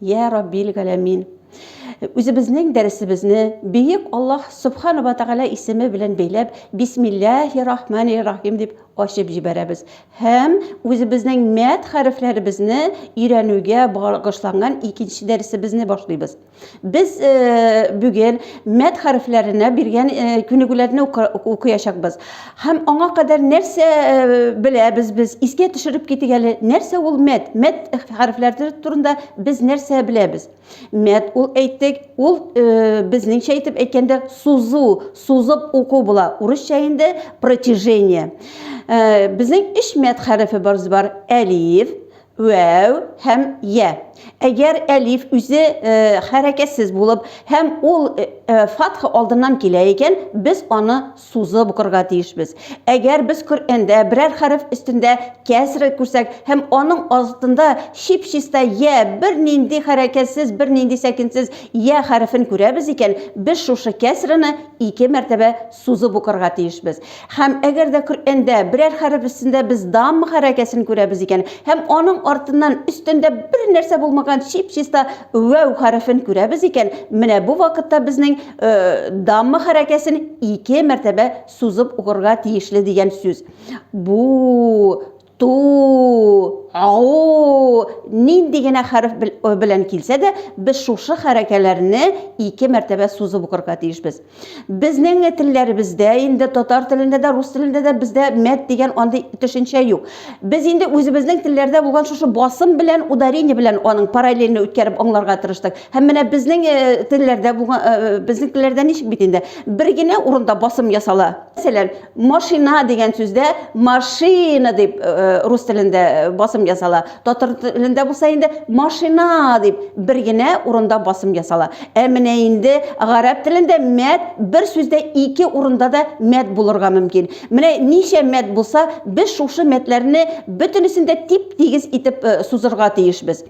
Йә Раббил Галәмин! Үзебезнең дәресебезне Бөек Аллаһ Субхана ва Тәгалә исеме белән бәйләп, Бисмилләһи Рахмани Рахим дип ачып җибәрәбез һәм үзебезнең мәд хәрефләребезне өйрәнүгә багышланган икенче дәресебезне башлыйбыз. Без э, бүген мәд хәрефләренә биргән э, күнегүләрне укыячакбыз. Һәм аңа кадәр нәрсә беләбез без? Искә төшереп китик әле, нәрсә ул мәт? Мәт хәрефләре турында без нәрсә беләбез? Мәт ул әйттек, ул безнеңчә итеп әйткәндә сузу, сузып уку була. Урысча инде протяжение. Безнең өч мәт хәрефе барыз бар. Әлиф, вәү һәм я. Әгәр әлиф үзе хәрәкәтсез булып һәм ул фатха алдыннан килә икән, без аны сузып укырга тиешбез. Әгәр без Коръәндә берәр хәреф өстендә кәсра күрсәк һәм аның астында чип-чиста йә, бернинди хәрәкәтсез, бернинди сәкенсез йә хәрефен күрәбез икән, без шушы кәсраны ике мәртәбә сузып укырга тиешбез. Һәм әгәр дә Коръәндә берәр хәреф өстендә без дамма хәрәкәсен күрәбез икән һәм аның артыннан өстендә бернәрсә булмаган чип-чиста вәү хәрефен күрәбез икән, менә бу вакытта безнең дамма хәрәкәсен ике мәртәбә сузып укырга тиешле дигән сүз. Бу, ту, ау, нинди генә хәреф белән килсә дә, без шушы хәрәкәләрне ике мәртәбә сузып укырга тиешбез. Безнең телләребездә, инде татар телендә дә, рус телендә дә бездә мәт дигән андый төшенчә юк. Без инде үзебезнең телләрдә булган шушы басым белән, ударение белән аның параллельны үткәреп аңларга тырыштык. Һәм менә безнең телләрдә булган безнең телләрдә ничек бит инде? Бер генә урында басым ясала. Мәсәлән, машина дигән сүздә машина дип рус телендә басым ясала. Татар телендә булса инде машина дип бер генә урында басым ясала. Ә менә инде гарәп телендә мәт бер сүздә ике урында да мәт булырга мөмкин. Менә ничә мәт булса, без шушы мәтләрне бөтенесен дә тип-тигез итеп сузырга тиешбез.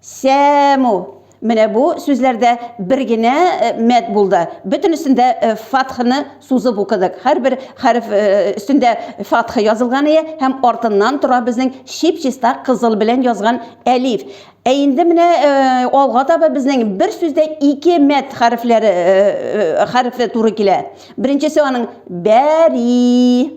Сәму. Менә бу сүзләрдә бер генә мәд булды. Бөтенесендә фатхны сузып укыдык. Һәрбер хәреф өстендә фатха язылган ие һәм артыннан тора безнең чип-чиста кызыл белән язган әлиф. Ә инде менә алга таба безнең бер сүздә ике мәд хәрефләре хәрефе туры килә. Беренчесе аның бәри.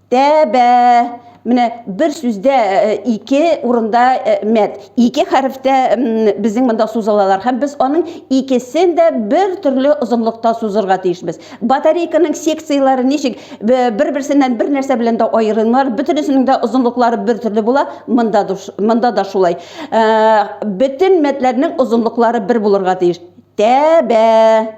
Тәбә. Менә бер сүздә э, ике урында э, мәт. Ике хәрефтә безнең монда сузылалар һәм без аның икесен дә бер төрле озынлыкта сузырга тиешбез. Батарейканың секцияләре ничек бер-берсеннән бер нәрсә белән дә аерылмар, бөтенесенең дә озынлыклары бер төрле була. Монда монда да шулай. Э, бөтен мәтләрнең озынлыклары бер булырга тиеш. Тәбә.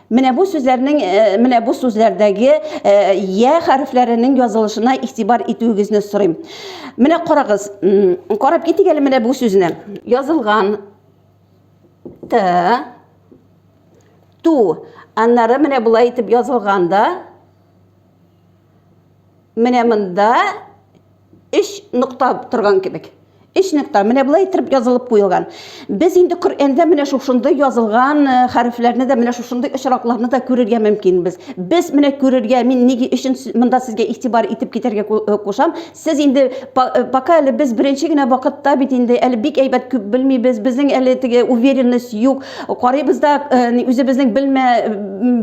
Менә бу сүзләрнең менә бу сүзләрдәге я хәрефләренең язылышына игътибар итүегезне сорыйм. Менә карагыз, карап китик әле менә бу сүзне. Язылган т ту. Аннары менә болай итеп язылганда менә монда өч нокта торган кебек. Өч нокта менә болай итеп язылып куелган. Без инде Коръәндә менә шушындый язылган э, хәрефләрне дә, менә шушындый очракларны да күрергә мөмкинбез. Без менә күрергә, мин нигә өчен монда сезгә игътибар итеп китәргә э, кушам. Сез инде э, пока әле без беренче генә вакытта бит инде әле бик әйбәт күп белмибез. Безнең әле теге уверенность юк. Карыйбыз да үзебезнең белмә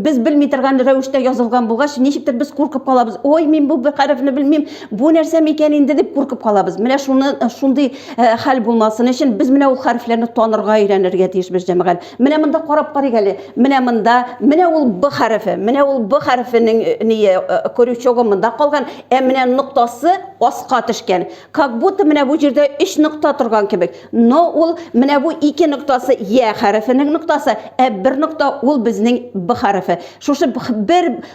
без белми торган рәвештә язылган булгач, ничектер без куркып калабыз. Ой, мин бу хәрефне белмим. Бу нәрсә микән инде дип куркып калабыз. Менә шуны э, шундый э, хәл булмасын өчен без менә ул хәрефләрне танырга өйрәнергә тиешбез, җәмәгать. Менә монда карап карыйк әле. Менә монда, менә ул б хәрефе. Менә ул б хәрефенең э, ние крючогы монда калган, ә менә ноктасы аска төшкән. Как будто менә бу җирдә 3 нокта торган кебек. Но ул менә бу ике ноктасы я хәрефенең ноктасы, ә бер нокта ул безнең б хәрефе. Шушы бер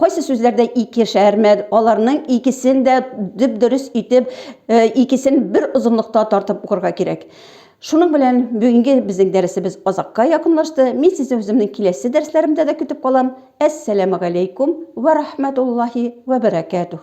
Кайсы сүзләрдә ике шәрмәд, аларның икесен дә дөп-дөрес итеп, э, икесен бер озынлыкта тартып укырга кирәк. Шуның белән бүгенге безнең дәресебез азакка якынлашты. Мин сезне үземнең киләсе дәресләремдә дә көтеп калам. Әссәламәгаләйкүм вә рахмәтуллаһи вә бәрәкәтүһ.